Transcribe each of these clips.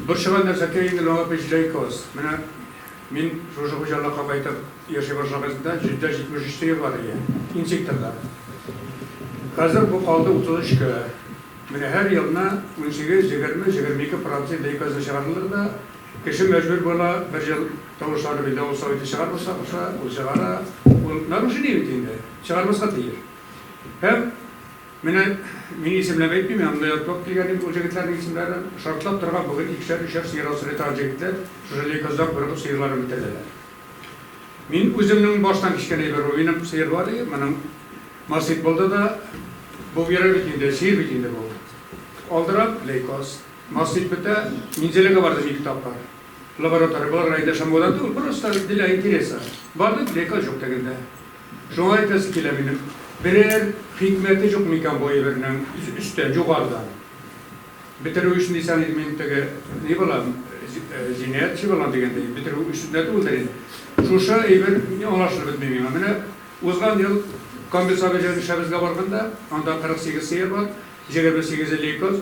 Борчыган нәрсәкәй инде ул аңа пич лейкоз. Менә мин шушы хуҗалыкка кайтып яши башлаганда җөддә җитмеш өч сыер бар иде, инсекторда. Хәзер бу калды утыз өчкә. Менә һәр елны унсигез, егерме, егерме ике процент лейкозны чыгаралар да, кеше мәҗбүр була, бер ел тавышланып инде авыл советы чыгармаска куша, ул чыгара, ул нарушение бит инде, чыгармаска тиеш. Һәм. Менә мин исемләп әйтмим, мин анда ятлап килгән инде ул җегетләрнең исемнәрен. Шартлап торырга бүген икешәр, өчәр сыер асрый торган җегетләр шушы лейкозда курыгып сыерларын бетерделәр. Мин үземнең баштан кичкән әйбер бу. Минем сыер бар иде, моның насыйп булды да, бу бирә бит инде, сыер бит инде бу. Алдырам, лейкоз. Насыйп бетә, Минзәләгә бардым ике тапкыр. Лаборатория булырга инде шомлыгудан түгел, просто для интереса. Бардым, лейкоз җук тегендә. Шуңа әйтәсе килә минем, берәр хикмәте җук микән бу әйбернең өстән, югарыдан бетерү өчен дисәң инде мин теге ни балам, җинаятьче балам дигәндәй, бетерү өчен дә түгелдер инде. Шушы әйбер аңлашылып бетми миңа. Менә узган ел Камберсабый җәен эшләбезгә барганда, анда 48 сыер бар, җегерме сигезе лейкоз.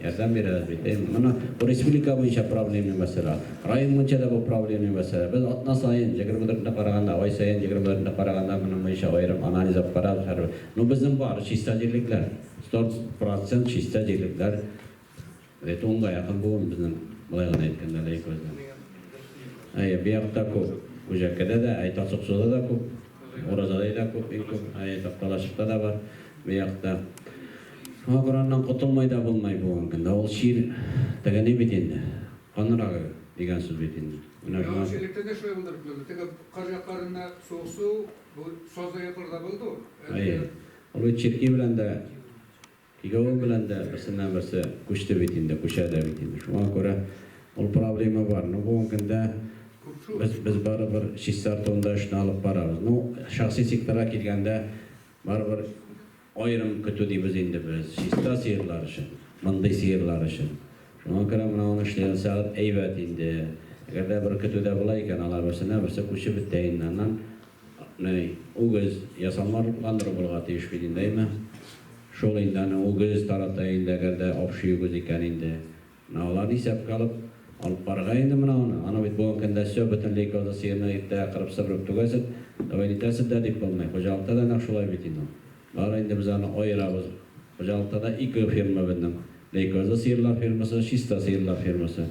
Ярдәм бирәбез бит, әйеме? Моны бу республика буенча проблемный мәсьәлә. Район буенча да бу проблемный мәсьәлә. Без атна саен, 24 көнне караганда, ай саен, 24 көнне караганда моның буенча аерым анализ алып карарбыз һәрбер. Ну безнең бар, чиста җирлекләр. 100% чиста җирлекләр. Бит унга якын бүген безнең, болай гына әйткәндә, Ләйкүлдә. Әйе, бу якта күп. Күҗәккәдә дә, әй Тасыксуда да күп. Уразадай да күп, иң күп. Әйе, Такталашыкта да бар бу якта. Шуңа күрә аннан котылмый да булмый бүгенге көндә. Ул чир теге ни бит инде, канырагы дигән сүз бит инде. Менә шуңа. Яңача электә дә шулай булды бит монда. Теге кыр якларында суыксу, бу сазлы якларда булды ул. Әйе. Ул бит черки белән дә, кигәве белән дә берсеннән-берсе күчте бит инде, күчә дә бит инде. Шуңа күрә ул проблема бар. Ну, бүгенге көндә без, без барыбер чистартуын да эшне алып барабыз. Ну, шәхси секторга килгәндә, барыбер. Аерым көтү дибез инде без чиста сыерлар өчен, мондый сыерлар өчен. Шуңа күрә менә аны эшли алсагыз әйбәт инде. Әгәр дә бер көтү дә була икән, алар берсенә берсе күчеп бетә инде. Аннан ни, үгез, ясалма рухландыру булырга тиеш бит инде, әйме? Шул инде аны үгез тарата инде, әгәр дә общий үгез икән инде. Менә аларны исәпкә алып, алып карга инде менә аны. Аны бит бүген көндә сё, бөтен лейкоза сыерны иртәгә кырып-сыбырып түгәсед, давай нитәсед дә дип булмый. Хуҗалыкта да нәкъ шулай бит инде ул. Бары инде без аны аерабыз. Хуҗалыкта да ике фирма безнең. Лейкоза сыерлар фирмасы, чиста сыерлар фирмасы.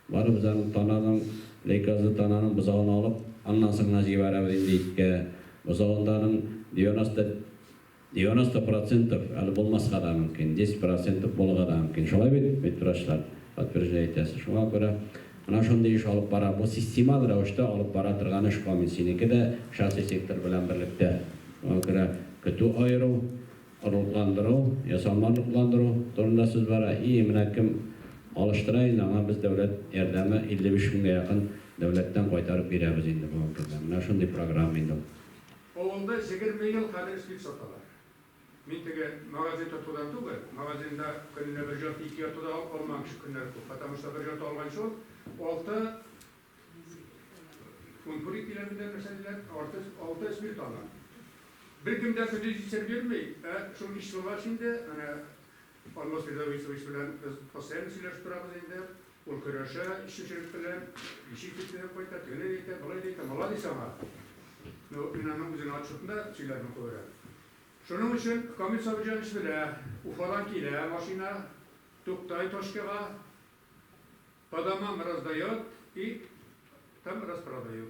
Бары без аны тананың, лейкоза тананың бозауны алып, аннан соң гына җибәрәбез инде иткә. Бозавында аның 90. Девяносто процентов, әле булмаска да мөмкин, десять процентов булырга да мөмкин. Шулай бит, бит врачлар, подтверждай итәсе. Шуңа күрә менә шундый эш алып бара. Бу системаль рәвештә алып бара торган эш комин. Синеке дә шәхси сектор белән берлектә. Шуңа күрә көтү аеру, орлыкландыру, ясалма орлыкландыру турында сүз бара. И, менә кем алыштыра инде, аңа без дәүләт ярдәме 55 меңгә якын дәүләттән кайтарып бирәбез инде бүгенге көндә. Менә шундый программа инде ул. Авылда җегерме ел хәзер эшли саталар. Мин теге магазин тотудан түгел, магазинда көненә бер җорт, ике җорты да алып калмаган кеше көннәре күп, потому что бер җорты алган чор алты фунт пури диләр бит әле нәрсә диләр, арты алты спирт ала. Беркем дә көндез җитсә бирми, ә шул ич сулгач инде, әнә Алмаз Ризависович белән без постоянно сөйләшеп торабыз инде. Ул көрәшә эшченчелек белән, ничек итеп төзәп кайта, тегеләй дә әйтә, болай да әйтә, маладис аңа. Ну, мин аның үзенең отчетында сөйләрмен күбрәк. Шуның өчен Камил Сабирҗанович белә, Уфадан килә машина, туктай точкага, по домам раздает и там распродает.